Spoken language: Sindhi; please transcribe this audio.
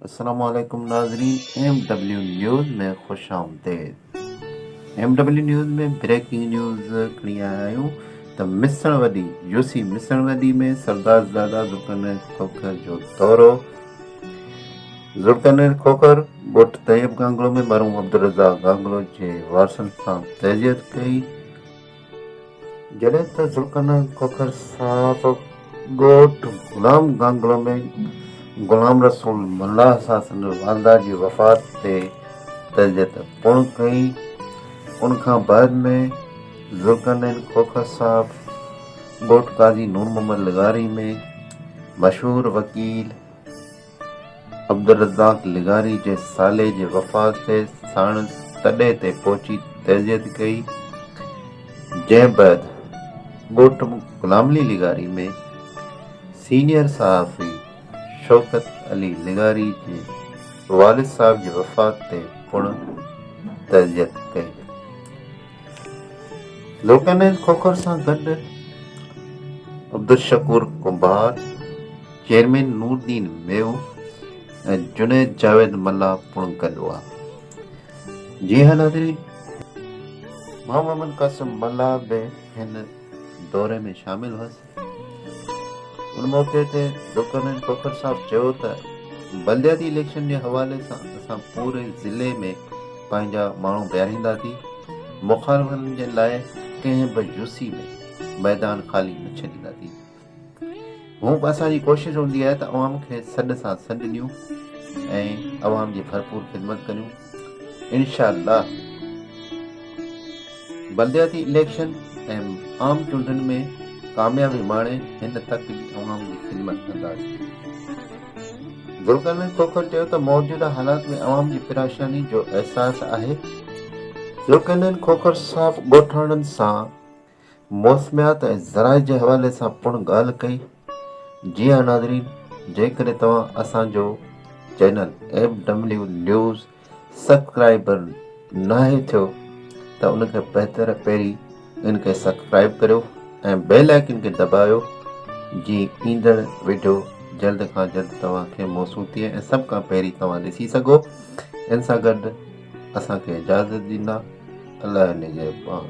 السلام عليڪم ناظرين ايم ڊبليو نيوز ۾ خوش آمديد M W news ۾ breaking news کڻي آيا آهيون ته مسڻ وڏي يو سي مسڻ وڏي ۾ سردار زادا ذوالقرنين کوکر جو دورو ذوالقرنين کوکر ڳوٺ طيب گانگلو ۾ مرحوم عبدالرزاق گانگلو جي وارثن سان تعزيت ڪئي جڏهن ته ذوالقرنين کوکر صاحب ڳوٺ غلام گانگلو ۾ غلام رسول ملاح سان سندس والده جي وفات تي تعزيت پڻ ڪئي. ان کان بعد ۾ ذوالقرنين کوکر صاحب ڳوٺ قاضي نور محمد لغاري ۾ مشهور وڪيل، عبدالرزاق لغاري جي سالي جي وفات تي ساڻس تڏي تي پهچي تعزيت ڪئي، جنهن بعد ڳوٺ غلام علي لغاري ۾ سينيئر صحافي شوڪت علي لغاري جي والد صاحب جي وفات تي پڻ تعزيت ڪئي. لوڪانائيز کوکر سان گڏ عبدالشڪور ڪنڀار، چيئرمين نوردين ميو ۽ جنيد جاويد ملاح پڻ گڏ هئا. جي ها ناظرين! محمد قاسم ملاح به هن دوري ۾ شامل هئس. ان موقعي تي ڊوڪرنين کوکر صاحب چيو ته بلدياتي اليڪشن جي حوالي سان اسان پوري ضلعي ۾ پنهنجا ماڻهو بيهارينداسين، مخالفن جي لاء ڪنهن به جوسي ۾ ميدان خالي نه ڇڏينداسين، هونئن به اسان جي ڪوشش هوندي آهي ته عوام کي سڏ سان سڏ ڏيون ۽ عوام جي ڀرپور خدمت ڪريون. انشاء الله بلدياتي اليڪشن ۽ عام چونڊن ۾ ڪاميابي ماڻي هن تڪ جي عوام جي خدمت ڪنداسين. ذوالقرنين کوکر چيو ته موجوده حالات ۾ عوام جي پراشاني جو احساس آهي. ذوالقرنين کوکر صاحب ڳوٺاڻن سان موسميات ۽ زرعي جي حوالي سان پڻ ڳالهه ڪئي. جي ها ناظرين جيڪڏهن توهان اسان جو channel M W news subscriber ناهي ٿيو ته ان کي بهتر پهرين ان کي سبڪرائب ڪريو ۽ بيل آئيڪن کي دٻايو جي ايندڙ ويڊيو جلد کان جلد توهان کي موصول ٿئي ۽ سڀ کان پهرين توهان ڏسي سگهو ان سان گڏ اسان کي اجازت ڏيندا الله نگهبان.